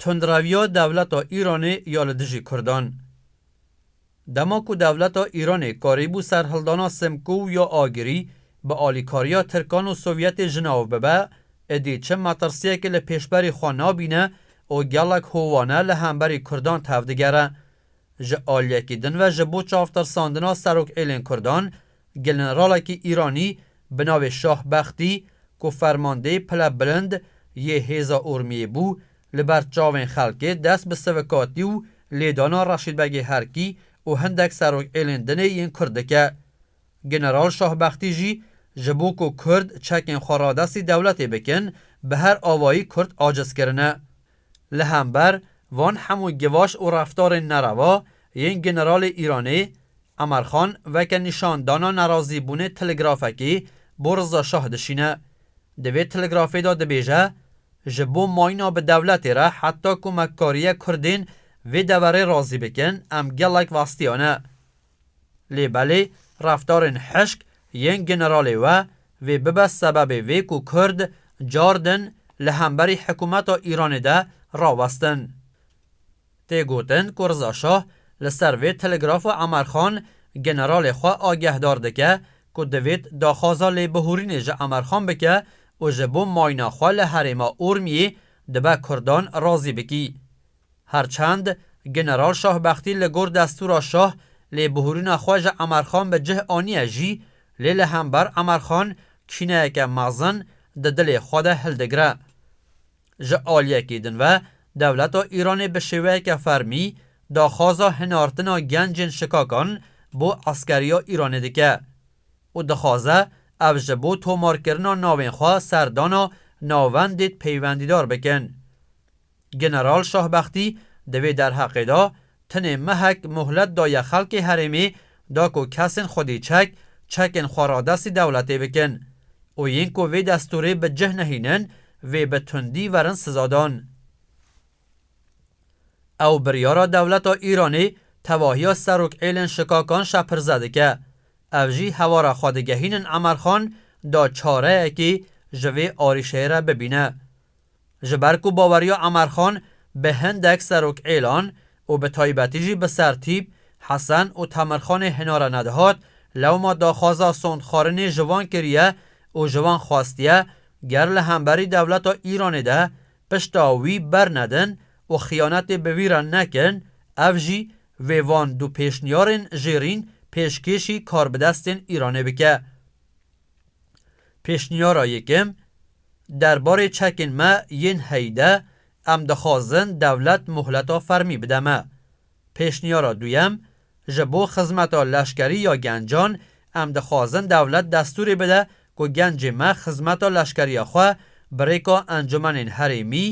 Tundraviya dewleta Îranê ya li dijî Kurdan. Dema ku dewleta Îranê karîbû serhildana Simkû û ya Agirî bi alîkariya Tirkan û Sovyetê ji nav bibe, idî çi metirsiyekê li pêşberî xwe nabîne û gelek howane li hemberî Kurdan tevdigere. Ji aliyekî din ve ji bo çavtirsandina Serokêlên Kurdan, generalekî Îranî bi navê Şah Bextî ku fermandeyê pile bilind yê hêza Urmiyê bû, li ber çavên xelkê dest bi sivikatî û lêdana Reşîd Begê Herkî û hindek serokêlên dinê yên Kurd dike. General Şah Bextî jî ji bo ku Kurd çekên xwe radestî dewletê bikin, bi her avayî Kurd aciz kirine. Li hember van hemû gevaş û reftarên nereva yên generalê Îranê Emer Xan veke nîşandana nerazîbûnê telegrafekî bo Riza Şah dişîne. Di vê telegrafê de dibêje, Ji bo mayîna bi dewletê re heta ku me kariye kurdên vê deverê razî bikin em gelek vestiyane. Lê belê reftarên hişk yên generalê we vê bibe sebebê vê ku kurd car din li hemberî hikûmeta Îranê de rawestin. Tê gotin ku Riza Şah li ser vê telegrafa Emer Xan generalê xwe agehdar dike ku divêt daxwaza lêbihûrînê ji Emer Xan bike û ji bo mayna xwe li herêma Urmiyê dibe kurdan razî bikî Her çend General Şahbextî li gor destûra şah lêbihûrîna xwe ji Emerxan bi cih aniye jî, lê li hember Emerxan kîneyeke mezin di dilê xwe de hildigire. Ji aliyekî din ve dewleta Îranê bi şêweyeke fermî daxwaza hinartina gencên şikakan bo eskeriya Îranê dike û dixwaze ev ji bo tomarkirina navên xwe serdana navendîd peywendîdar bikin. General Şahbextî di vê derheqê de tenê mehek muhlet daye xelkê herêmê da ku kesên xwedî çek, çekên xwe radestî dewletê bikin û yên ku vê destûrê bi cih nehînin vê bi tundî verin sizadan. Ew biryara dewleta Îranê tevahiya serok êlên şikakan şepirze dike. Ev jî hewara xwe digehînin Emerxan da çareyekî ji vê arîşeyê re bibîne. Ji ber ku baweriya Emerxan bi hindek serokêlan û bi taybetî jî bi Sertîp, Hesen û Temirxanê hinare nedihat, lewma daxwaza sondxwarinê ji van kiriye û ji van xwestiye ger li hemberî dewleta Îranê de pişta wî bernedin û xiyanetê bi wî re nekin, ev jî vê van du pêşniyarên jêrîn pêşkêşî karbidestên Îranê bike. Pêşniyara yekem, Derbarê çekên me yên heyî de em dixwazin dewlet mohleta fermî bide me. Pêşniyara duyem, Ji bo xizmeta leşkerî ya gencan em dixwazin dewlet destûrê bide ku gencê me xizmeta leşkeriya xwe bi rêka encumenên herêmî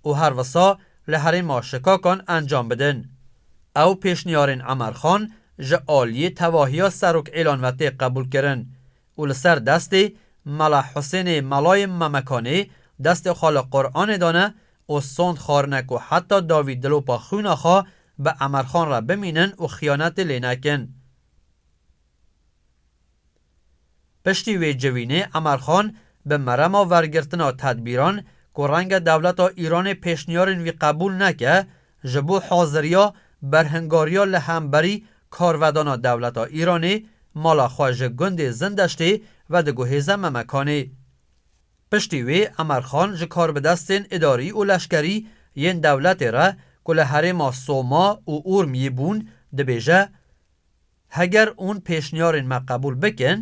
û her wisa li herêma şikakan encam bidin. Ew pêşniyarên Emer Xan ji aliyê tevahiya Serok Îlan ve tê qebûlkirin û li ser destê Mela Husênê Melayê Memekanê destê xwe li Quranê dane û sond xwarine ku heta dawî dilopa xwîna xwe bi Emerxan re bimînin û xiyanetê lê nekin. Piştî wê civînê Emer Xan bi merema wergirtina tedbîran ku renge dewleta Îranê pêşniyarên wî qebûl neke, ji bo haziriya berhingariya li hemberî karvedana dewleta Îranê mala xwe ji gundê Zindeştê vediguhêze Memekanê. Piştî wê Emer Xan ji karbidestên îdarî û leşkerî yên dewletê re ku li herêma Soma û Urmiyê bûn dibêje, Heger hûn pêşniyarên me qebûl bikin,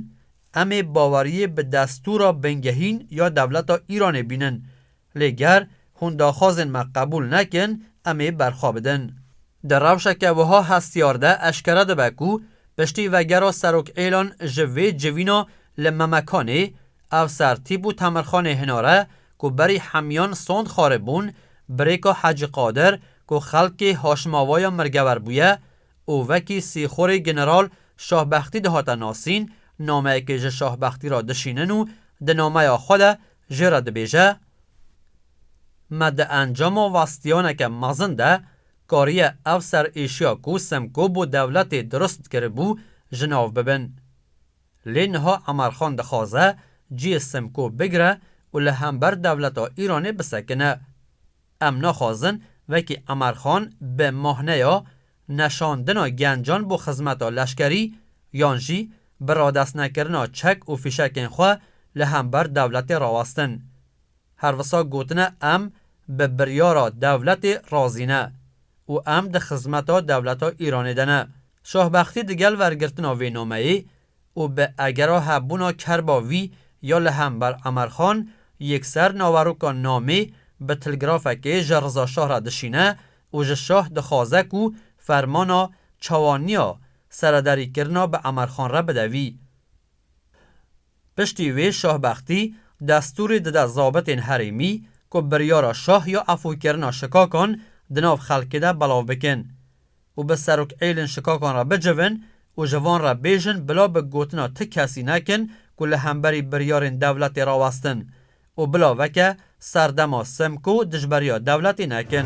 em ê baweriyê bi destûra bingehîn ya dewleta Îranê bînin. Lê ger hûn daxwazên me qebûl nekin, em ê berxwe bidin. Di rewşeke wiha hestiyar de eşkere dibe ku piştî vegera Serokêlan ji vê civîna li Memekanê, ev ser tîp û temirxanê hinare ku berî hemiyan sond xaribûn, Birêka Hecî Qadir ku xelkê Haşimavaya mirgewer bûye, û wekî sîxorê General Şahbextî dihate nasîn, nameyekê ji Şahbextî re dişînin û di nameya xwe de jê re dibêje, Me di encama westiyaneke mezin de kariye ev serêşiya ku Simko bo dewletê dirust kiribû ji nav bibin. Lê niha Emerxan dixwaze cihê Simko bigire û li hember dewleta Îranê bisekine. Em naxwazin wekî Emer Xan bi mahneya neşandina gencan bo xizmeta leşkerî yan jî bi radestnekirina çek û fîşekên xwe li hember dewletê rawestin. Her wisa gotine em bi biryara dewletê razî ne û em di xizmeta dewleta Îranê de ne. Şahbextî digel wergirtina vê nameyê û bi egera hebûna kerba wî ya li hember Emerxan yekser naveroka namê bi tilgrafekê ji Rizaşah re dişîne û ji şah dixwaze ku fermana çawaniya seredarîkirina bi Emerxan re bide wî. Piştî wê Şah Bextî destûrê dide zabitên herêmî ku biryara şah ya efûkirina şikakan di nav xelkê de belav bikin. û bi serok êlin şikakan re bicivin û ji van re bêjin bila bi gotina ti kesî nekin ku li hemberî biryarên dewletê rawestin û bila veke ser dema Simko dijberiya dewletê nekin.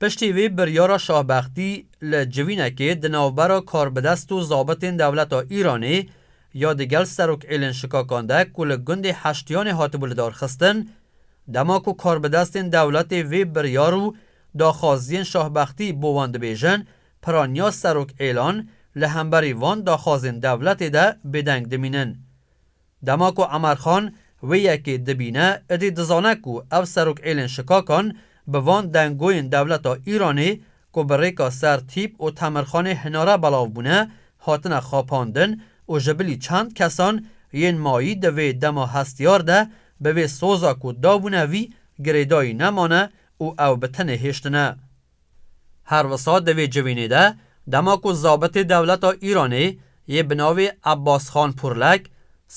Piştî vê biryara Şahbextî li civînekê di navbera karbidest û zabitên dewleta Îranê ya di gel serokêlên şikakan de ku li gundê Heştiyanê hatibû lidarxistin, dema ku karbidestên dewletê vê biryar û daxwaziyên Şahbextî bo wan dibêjin, piraniya serokêlan li hemberî van daxwazên dewletê de bêdeng dimînin. Dema ku Emerxan wê yekê dibîne, idî dizane ku ev serokêlên şikakan bi van dengoyên dewleta Îranê ku bi rêka ser tîp û temirxanê hinare belav bûne, hatine xapandin û ji bilî çend kesan yên mayî di vê dema hestiyar de bi vê soza ku dabûne vî girêdayî nemane û ew bi tenê hêştine. Her wisa di vê civînê de dema ku zabitê dewleta Îranê yê bi navê Abbasxan Purlek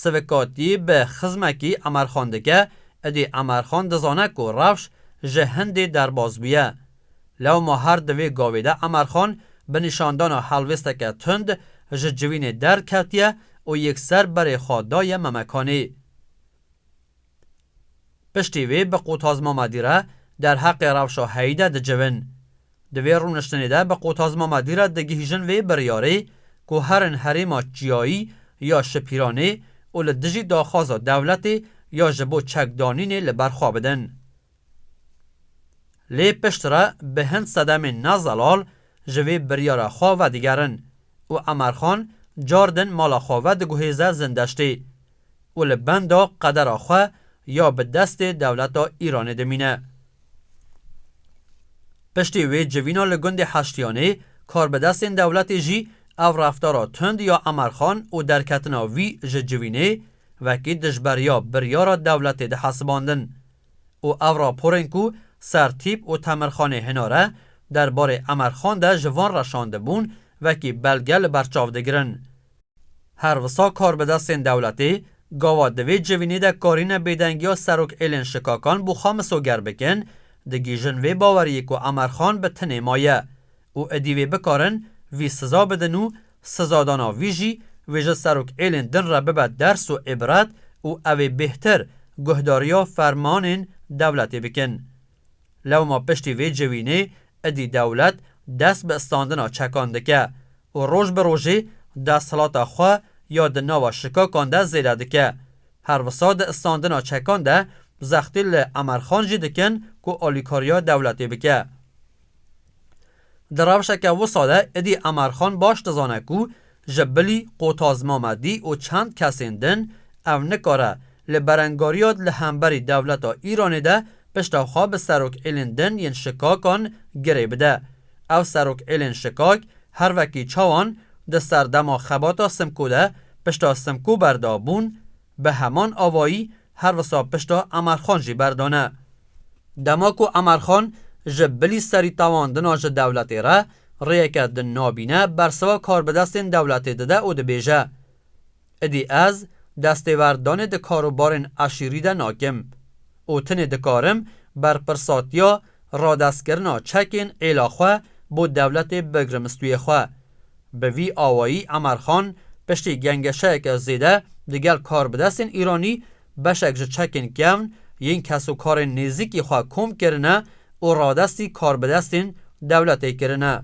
sivikatî bi xizmekî Emerxan dike, idî Emerxan dizane ku rewş ji hindê derbas bûye. Lewma her di vê gavê de Emerxan bi nîşandana helwêsteke tund ji civînê derketiye û yekser berê xwe daye Memekanê. Piştî vê bi qutazma madî re derheqê rewşa heyî de dicivin. Di vê rûniştinê de bi qutazma madî re digihîjin vê biryarê ku herin herêma çiyayî ya Şipîranê û li dijî daxwaza dewletê ya ji bo çekdanînê li ber xwe bidin. Lê piştre bi hin sedemên ne zelal ji vê biryara xwe vedigerin û Emerxan car din mala xwe vediguhêze Zindeştê û li benda qedera xwe ya bi destê dewleta Îranê dimîne. Piştî wê civîna li gundê Heştiyanê, karbidestên dewletê jî ev reftara tund ya Emerxan û derketina wî ji civînê wekî dijberiya biryara dewletê dihesibandin û ev raporên ku Sertîp û Temirxanê hinare derbarê Emerxan de ji van reşandibûn wekî belge li ber çav digirin. Her wisa karbidestên dewletê gava di vê civînê de karîne bêdengiya Serok Êlên Şikakan bo xwe misoger bikin, digihîjin vê baweriyê ku Emer Xan bi tinê maye û idî wê bikarin vî siza bidin û sizadana vî jî wê ji Serok Êlên din re bibe ders û îbret û ew ê bêhtir guhdariya fermanên dewletê bikin. Lewma piştî vê civînê idî dewlet dest bi standina çekan dike û roj bi rojê desthilata xwe ya di nava şikakan de zêde dike. Her wisa di standina çekan de zextî li Emerxan jî dikin ku alîkariya dewletê bike. Di rewşeke wisa de êdî Emarxan baş dizane ku ji Bilî, Qotaz Mamedî û çend kesên din ew nikare li berengariya li hemberî dewleta Îranê de pişta xwe bi serokêlên din yên şikakan girê bide. Ew serokêlên şikak her wekî çawan di serdema xebata Simko de pişta Simko berdabûn, Bi heman avayî her wisa pişta Emerxan jî berdane. Dema ku Emerxan ji bilî serî tewandina ji dewletê re, rêyeke din nabîne bersiva karbidestên dewletê dide û dibêje, Idî ez destêwerdanê di karobarên eşîrî de nakim. û tenê dikarim berpirsatiya radestkirina çekên êla xwe bo dewletê bigrim stûyê xwe. Bi vî awayî Emer Xan piştî gengeşeyeke zêde digel karbidestên Îranî beşek ji çekên kevn yên kesokarên nêzîkî xwe kom kirine û radestî karbidestên dewletê kirine.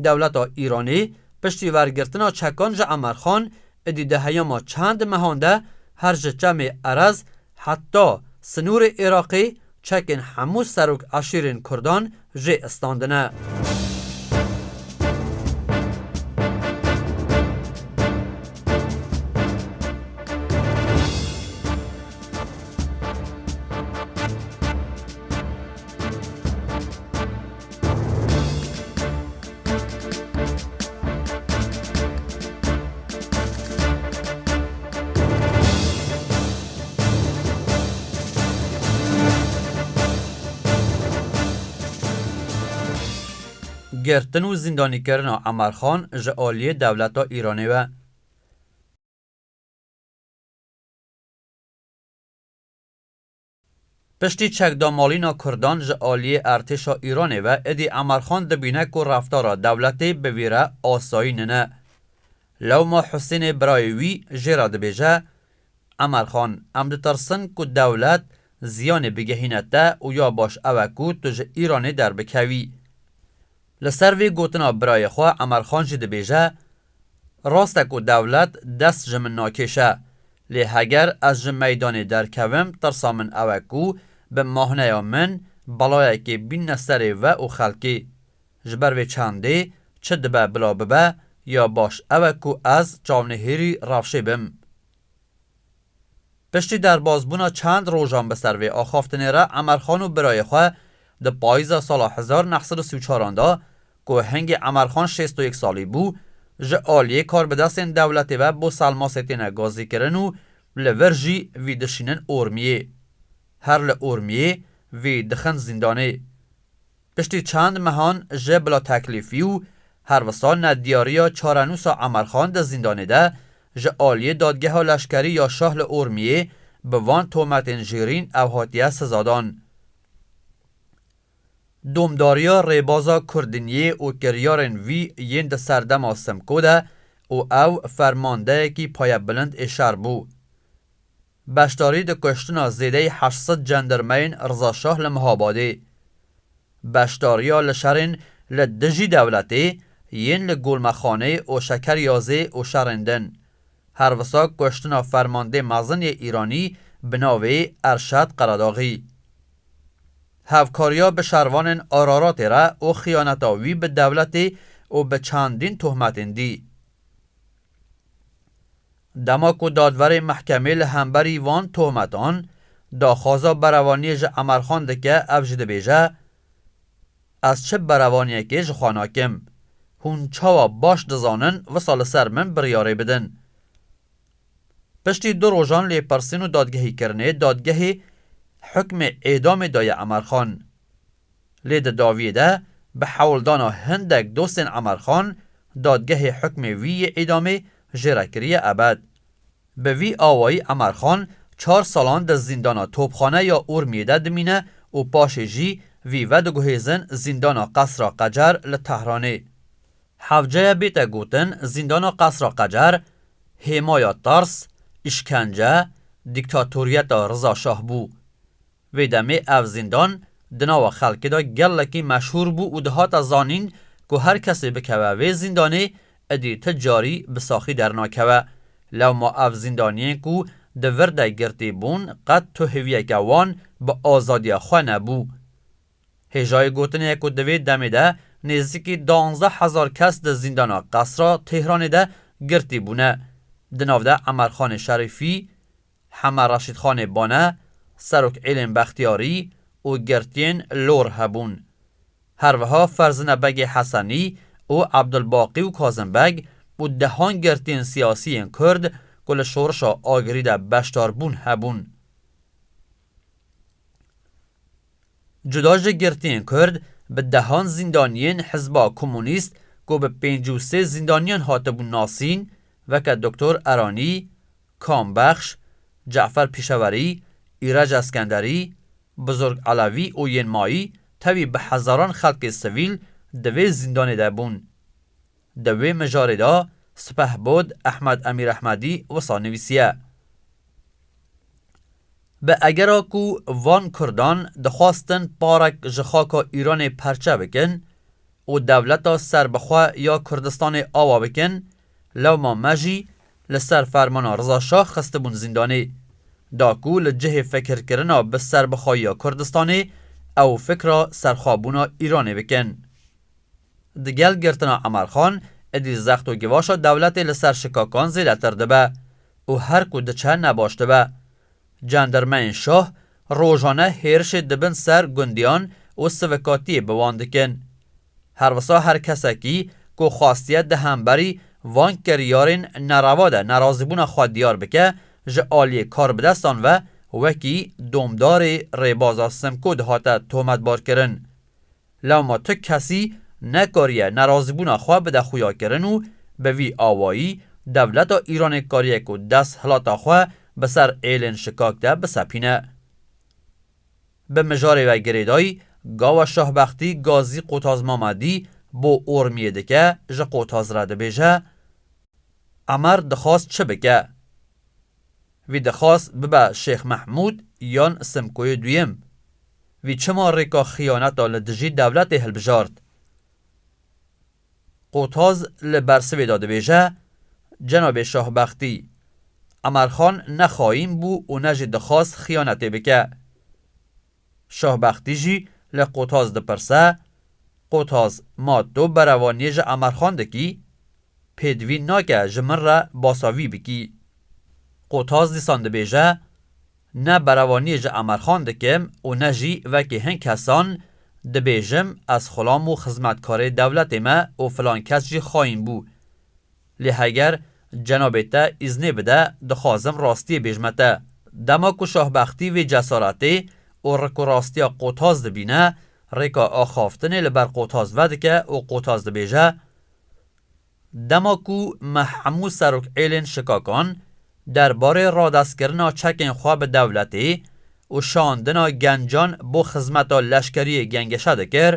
Dewleta Îranê piştî wergirtina çekan ji Emerxan êdî di heyama çend mehan de her ji çemê Erez heta sinûrê Iraqê çekên hemû serok eşîrên kurdan jê istandine. Girtin û zîndanîkirina Emar Xan ji aliyê dewleta Îranê ve. Piştî çekdamalîna kurdan ji aliyê ertêşa Îranê ve êdî Emerxan dibîne ku reftara dewletê bi vî re asayî nine. Lewma Husênê birayê wî jê re dibêje, Emerxan em ditirsin ku dewlet ziyanê bigihîne te û ya baş ew e ku tu ji Îranê derbikevî. Li ser vê gotina birayê xwe Emerxan jî dibêje, Rast e ku dewlet dest ji min nakêşe, lê heger ez ji meydanê derkevim tirsa min ew e ku bi mahneya min belayekê bîne serê we û xelkê. Ji ber vê çandê çi dibe bila bibe ya baş ew e ku ez çavnihêrî rewşê bim. Piştî derbasbûna çend rojan bi ser vê axaftinê re Emerxan û birayê xwe di payîza sala hezar neh sed û sî û çar an de ku hingî Emerxan şêst û yek salî bû ji aliyê karbidestên dewletê ve bo Selmasê têne gazîkirin û li vir jî vî dişînin Ormiyê. Her li Ormiyê vî dixin zîndanê. Piştî çend mehan ji bila teklîfî û her wisa nediyariya çarenûsa Emer Xan di zîndanê de ji aliyê Dadgeha Leşkerî ya Şah li Urmiyê bi van tometên jêrîn ew hatiye sizadan. Domdariya rêbaza Kurdiniyê û kiryarên vî yên di serdema Simko de û ew fermandeyekî payebilind ê şer bû. Beşdarî di kuştina zêdeyî heşt sed cendirmeyên Riza Şah li Mihabadê, beşdariya li şerên li dijî dewletê yên li Gulmexanê û Şekeryazê û şerên din, her wisa kuştina fermandê mezin yê Îranî bi navê Erşad Qeredaxî. Hevkariya bi şervanên Araratê re û xiyaneta wî bi dewletê û bi çandîn tohmetên dî. Dema ku dadverê mehkemê li hemberî van tohmetan daxwaza berevaniyê ji Emerxan dike ev jî dibêje, Ez çi berevaniyekê ji xwe nakim. Hûn çawa baş dizanin wisa li ser min biryarê bidin. Piştî du rojan lêpirsîn û dadgehîkirinê dadgehê hukmê êdamê daye Emerxan. Lê di daviyê de bi hewldana hindek dostên Emer Xan, dadgehê hukmê wî yê îdamê jê re kiriye ebed. Bi vî awayî Emer Xan çar salan di zîndana Topxane ya Urmiyê de dimîne û paşê jî vî vediguhêzin zîndana Qesra Qecer li Tehranê. Hevceye bête gotin zîndana Qesra Qecer hêmaya tirs, îşkence, dîktatoriyeta Riza Şah bû. Vê demê ev zîndan di nava xelkê de gelekî meşhûr bû û dihate zanîn ku her kesê bikeve vê zîndanê êdî ti carî bi saxî dernakeve. Lewma ev zîndaniyên ku di vir de girtî bûn qet tuhêviyeke wan bi azadiya xwe nebû. Hêjayê gotin e ku di vê demê de nêzîkî duanzdeh hezar kes di zîndana Qesra Têhranê de girtî bûne. Di nav de Emerxanê Şerîfî, Hema Reşîdxanê Bane, Serok Îlên Bextiyarî û girtiyên Lor hebûn. Her wiha Ferzine Begê Hesenî û Ebdulbaqî û Kazim Beg û dehan girtiyên siyasî yên Kurd ku li şorişa Agirî de beşdar bûn hebûn. Cuda ji girtiyên Kurd, bi dehan zîndaniyên Hizba Komunîst ku bi pênc û sê zîndaniyan hatibûn nasîn, weke Doktor Eranî, Kam Bexş, Ce'fer Pişewerî, Îrej Eskenderî, Buzurg Elewî û yên mayî tevî bi hezaran xelkê sivîl di vê zîndanê de bûn. Di wê mijarê de Sipehbod Ehmed Emîrehmedî wisa nivîsiye, Bi egera ku van kurdan dixwastin parek ji xaka Îranê perçe bikin û dewleta serbixwe ya Kurdistanê awa bikin, lewma me jî li ser fermana Riza Şah xistibûn zîndanê. Da ku li cihê fikirkirina bi serbixweyiya Kurdistanê ew fikra serxwebûna Îranê bikin. Di gel girtina Emel Xan, êdî zext û givaşa dewletê li ser şikakan zêdetir dibe û her ku diçe ne baş dibe. Cendirmeyên şah rojane hêrişê di bin ser gundiyan û sivikatiyê bi wan dikin. Her wisa her kesekî ku xwastiye di hemberî van kiryarên nereva de nerazîbûna xwe diyar bike ji aliyê karbidestan ve wekî domdarê rêbaza Simko dihate tometbarkirin. Lama tu kesî nekariye nerazîbûna xwe bide xuyakirin û bi vî awayî dewleta Îranê kariye ku desthilata xwe bi ser êlên şikak de bisepîne. Bi mijarê ve girêdayî gawa Şahbextî Gazî Qotaz Mamedî bo Ormiyê dike ji Qotaz re dibêje, Emer dixwast çi bike? Vî dixwaz bibe Şêx Mehmûd yan Simkoyê Duyem. Vî çima rêka xiyaneta li dijî dewletê hilbijart? Qotaz li bersivê de dibêje, Cenabê Şahbextî, Emerxan ne xayîn bû û ne jî dixwaz xiyanetê bike. Şahbextî jî li Qotaz dipirse, Qotaz ma to berevaniyê ji Emerxan dikî? Pêdivîn nake ji min re basa vî bikî. Qotaz dîsan dibêje, Ne berevaniyê ji Emerxan dikim û ne jî vekê hin kesan dibêjim ez xulam û xizmetkarê dewletê me û filan kes jî xayîn bû. Lê heger cenabê te îznê bide dixwazim rastiyê bêjme te. Dema ku Şahbextî vê cesaretê û rik û rastiya Qotaz dibîne, rêka axaftinê li ber Qotaz vedike û Qotaz dibêje, Dema ku me hemû serokêlên şikakan der barê radestkirina çekên xwe bi dewletê û şandina gencan bo xizmeta leşkeriyê gengeşe dikir,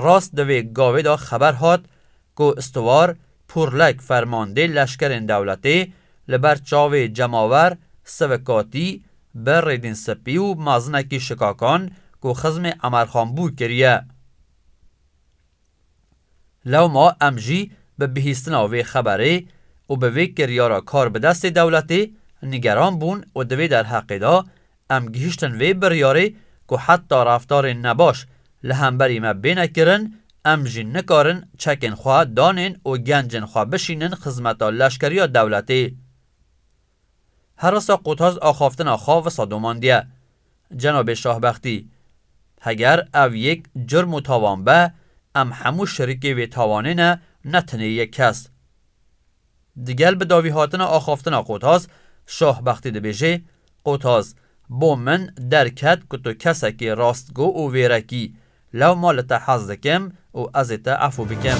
rast di vê gavê de xeber hat ku Stiwar Purlek fermandê leşkerên dewletê li ber çavê cemawer sivikatî bi rêdîn spî û mazinekî şikakan ku xizmê Emerxan bû kiriye. Lewma em jî bi bihîstina vê xeberê û bi vê kiryara kar bi destê dewletê nigeran bûn û di vê derheqê de Em gihiştin vê biryarê ku heta reftarên nebaş li hemberî me bêne kirin, em jî nikarin çekên xwe danên û gencên xwe bişînin xizmeta leşkeriya dewletê. Herasa Qutaz axaftina xwe wisa domandiye. Cenabê Şahbextî, Heger ev yek curm û tawan be, em hemû şerîkê vê tawanê ne, ne tenê yek kes. Digel bi davîhatina axaftina Qotaz, Şah Bextî dibêje, Qotaz, bo min derket ku tu kesekî rastgo û vêrek î, lewma li te hez dikim û ez ê te efû bikim.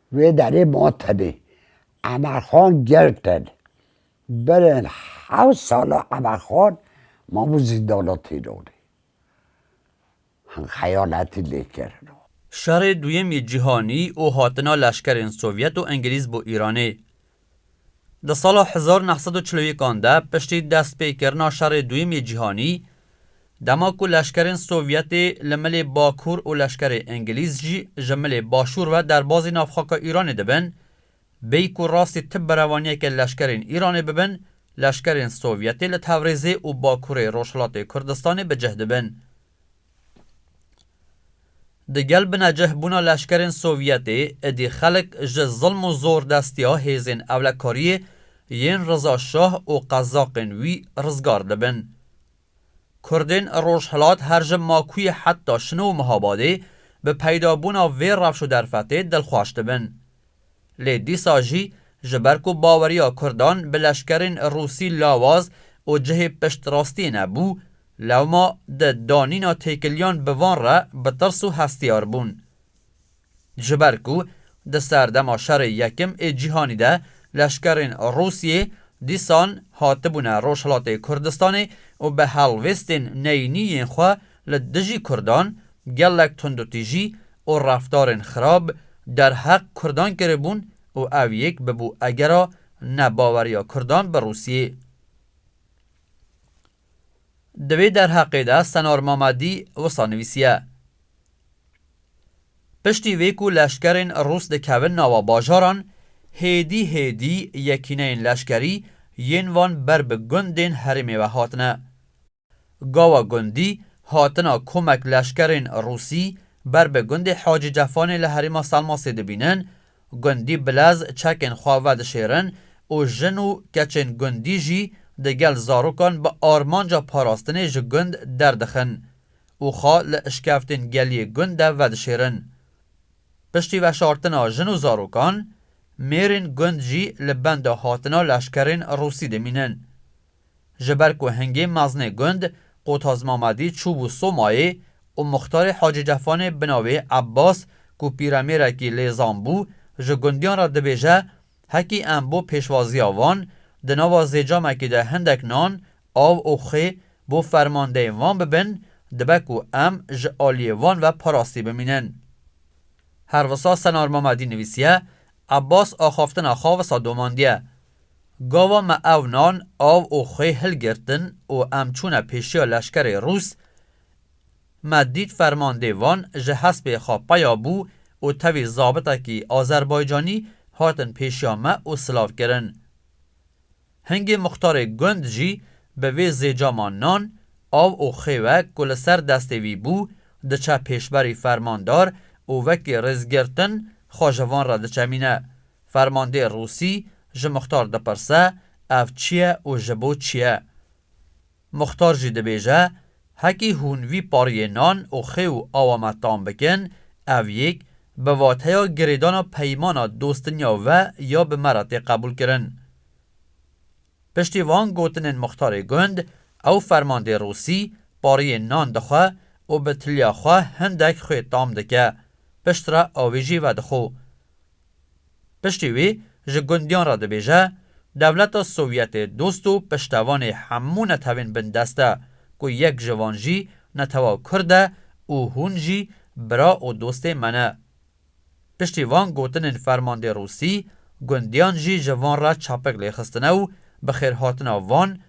Wê derê ma tenê. Emelxan Gelten, berên hewt sal e Emelxan mabû zîndana Tînanê. Hin xeyanetî lê kirina. Şerê Duyemî Cîhanî û hatina leşkerên Sovyet û Engilîz bo Îranê, Di sala hezar neh sed û çil û yek an de piştî destpêkirina Şerê Duyem yê Cîhanî, dema ku leşkerên Sovyetê li milê Bakur û leşkerê Îngilîz jî ji milê Başûr ve derbazî nav xaka Îranê dibin, bêyî ku rastî ti berevaniyeke leşkerên Îranê bibin, leşkerên Sovyetê li Tevrêzê û Bakurê Rojhilatê Kurdistanê bi cih dibin. Di gel binecih bûna leşkerên Sovyetê êdî xelk ji zilm û zordestiya hêzên ewlekariyê yên Riza Şah û qezaqên wî rizgar dibin. Kurdên rojhilat her ji Makûyê heta Şino û Mihabadê bi peydabûna vê rewş û derfetê dilxweş dibin. Lê dîsa jî ji ber ku baweriya Kurdan bi leşkerên Rûsî lawaz û cihê piştrastiyê nebû, Lewma di danîna têkiliyan bi van re bi tirs û hestiyar bûn. Ji ber ku di serdema Şerê Yekim ê Cîhanî de leşkerên Rûsyê dîsan hatibûne Rojhilatê Kurdistanê û bi helwêstên neyînî yên xwe li dijî Kurdan gelek tundûtîjî û reftarên xirab derheq Kurdan kiribûn û ev yek bibû egera nebaweriya Kurdan bi Rûsyê. Di vê derheqê de Senor Mamadi wisa nivîsiye, Piştî vê ku leşkerên Rûs dikevin nava bajaran, hêdî hêdî yekîneyên leşkerî yên van ber bi gundên herêmê ve hatine. Gawa gundî hatina komek leşkerên Rûsî ber bi gundê Hacî Cefanê li herêma Selmasê dibînin, Gundî bilez çekên xwe vedişêrin û jin û keçên gundî jî di gel zarokan bi armanca parastinê ji gund derdixin û xwe li işkeftên geliyê gund de vedişêrin. Piştî veşartina jin û zarokan, mêrên gund jî li benda hatina leşkerên Rûsî dimînin. Ji ber ku hingê meznê gund Qotaz Mamadî çûbû Somayê û Muxtarê Hacî Cefanê bi navê Ebbas ku pîremêrekî lêzan bû ji gundiyan re dibêje Hekî em bo pêşwaziya wan di nava zêcamekî de hindek nan, av û xê bo fermandeyên wan bibin, dibe ku em ji aliyê wan ve parastî bimînin. Her wisa Senar Mamadî nivîsiye, Ebbas axaftina xwe wisa domandiye. Gava me ew nan, av û xwê hilgirtin û em çûne pêşiya leşkerê Rûs. Me dît fermandê wan ji hespê xwe peya bû û tevî zabitekî Azerbaycanî hatin pêşiya me û silav kirin. Hingê muxtarê gund jî bi vê zêcama nan, av û xwê ve ku li ser destê wî bû, diçe pêşberî fermandar û wekî rêzgirtin xwe ji van re diçemîne. Fermandê Rûsî ji Muxtar dipirse ev çi ye û ji bo çi ye. Muxtar jî dibêje, Hekî hûn vî pariyê nan û xê û awa me tam bikin, ev yek bi vateya girêdana peymana dostinya ve ya bi me re tê qebûlkirin. Piştî van gotinên Muxtarê Gund, ew fermandê Rûsî pariyê nan dixwe û bi tiliya xwe hindek xwê tam dike, piştre avê jî vedixwe. Piştî wî ji gundiyan re dibêje, Dewleta Sovyetê dost û piştevanê hemû netewên bindest e, ku yek ji van jî netewa kurd e û hûn jî bira û dostê me ne. Piştî van gotinên fermandê rûsî, gundiyan jî ji van re çapik lêxistine û bi xêrhatina van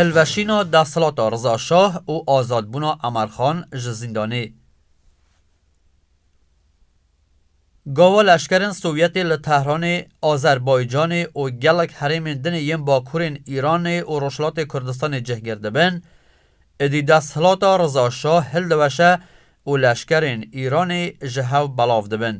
Hilweşîna desthilata Riza Şah û azadbûna Emer Xan ji zîndanê. Gava leşkerên Sovyetê li Tehranê, Azerbaycanê û gelek herêmên dinê yên bakurên Îranê û Rojhilatê Kurdistanê cih girdibin, êdî desthilata Riza Şah hildiweşe û leşkerên Îranê ji hev belav dibin.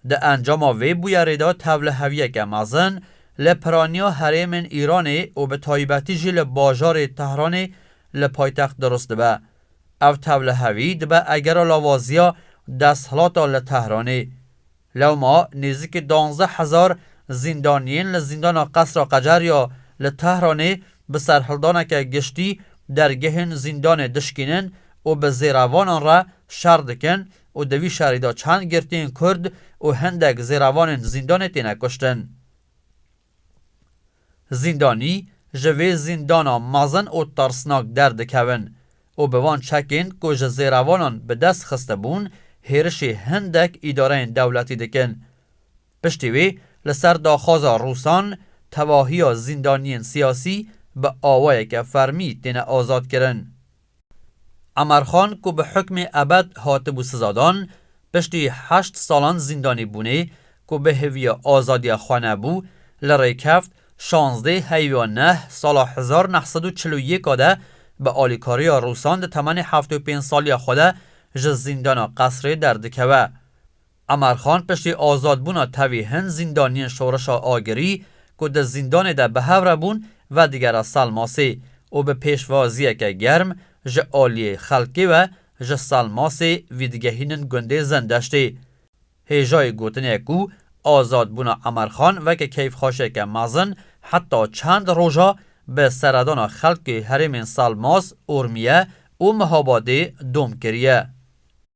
Di encama vê bûyerê de tevliheviyeke mezin li piraniya herêmên Îranê û bi taybetî jî li bajarê Tehranê li paytext dirust dibe. Ev tevlihevî dibe egera lawaziya desthilata li Tehranê. Lewma nêzîkî duanzdeh hezar zîndaniyên li zîndana Qesra Qecer ya li Tehranê bi serhildaneke giştî dergehên zîndanê dişkînin û bi zêrevanan re şer dikin û di vî şerî de çend girtiyên Kurd û hindek zêrevanên zîndanê têne kuştin. Zîndanî ji vê zîndana mezin û tirsnak derdikevin û bi van çekên ku ji zêrevanan bi dest xistibûn hêrişê hindek îdareyên dewletî dikin. Piştî wê li ser daxwaza Rûsan tevahiya zîndaniyên siyasî bi awayeke fermî têne azadkirin. Emarxan ku bi hukmê ebed hatibû sizadan, piştî heşt salan zîndanîbûnê ku bi hêviya azadiya xwe nebû, li rêkeft şazdeh heywa neh sala hezar û neh sed û çil û yek a de bi alîkariya Rûsan di temenê heft û pênc saliya xwe de ji zîndana Qesrê derdikeve. Emer Xan piştî azadbûna tevî hin zîndaniyên Şoreşa Agirî ku di zîndanê de bi hev re bûn vedigera Salmasê û bi pêşwaziyeke germ ji aliyê xelkê we ji Salmasê vîdigehînin gundê Zendeştê. Hêjayê gotinê ye ku azadbûna Emer Xan weke keyfxweşiyeke mezin heta çend roja bi seredana xelkê herêmên Salmas, Urmiye û Mihabadê dom kiriye.